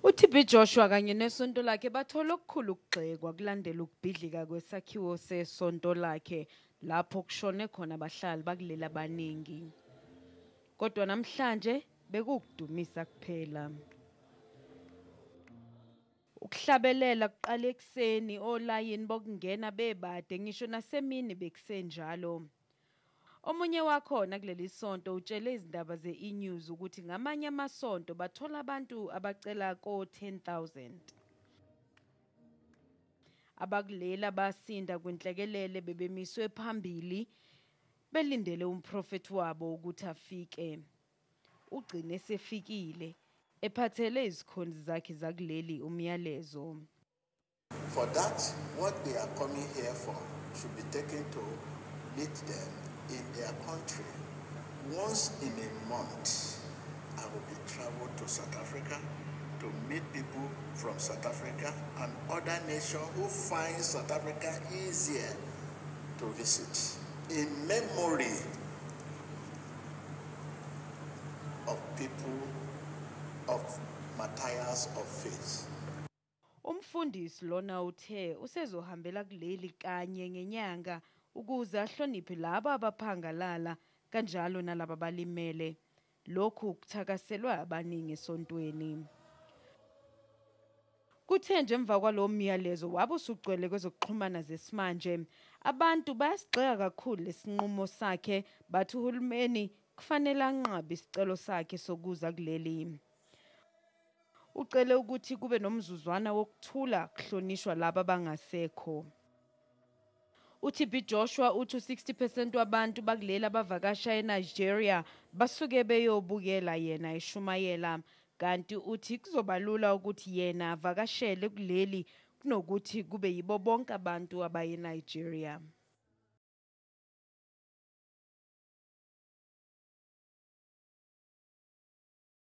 UTB Joshua kanye nesonto lakhe bathola okukhulu ukugxekwa kulandela ukubhidlika kwesakhiwo sesonto lakhe lapho kushone khona abahlali bakuleli abaningi. Kodwa namhlanje Bekukudumisa kuphela. Ukuhlabelela kuqala ekuseni olayini bokungena bebade ngisho nasemini bekusenjalo. Omunye wakhona kuleli sonto utshele izindaba ze-eNews ukuthi ngamanye amasonto bathola abantu abacela ko-10,000. Abakuleli abasinda kwinhlekelele bebemiswe phambili Belindele umprofethi wabo ukuthi afike. Ugcine esefikile, ephathele izikhonzi zakhe zakuleli umyalezo. For that, what they are coming here for should be taken to meet them in their country. Once in a month, I will be traveled to South Africa to meet people from South Africa and other nations who find South Africa easier to visit. In memory of people of Matthias of Faith. Umfundisi lona uthe usezohambela kuleli kanye ngenyanga ukuze ahloniphe laba abaphangalala kanjalo nalaba balimele. Lokhu kuthakaselwe abaningi esontweni. Kuthe nje emva kwalowo myalezo wabe usugcwele kwezokuxhumana zesimanje. Abantu bayasigxeka kakhulu lesinqumo sakhe bathi uhulumeni kufanele anqabe isicelo sakhe sokuza kuleli. Ucele ukuthi kube nomzuzwana wokuthula kuhlonishwa laba abangasekho. UTB Joshua uthi u-60 percent wabantu bakuleli abavakasha eNigeria basuke beyobukela yena eshumayela kanti uthi kuzoba lula ukuthi yena avakashele kuleli kunokuthi kube yibo bonke abantu abaye eNigeria.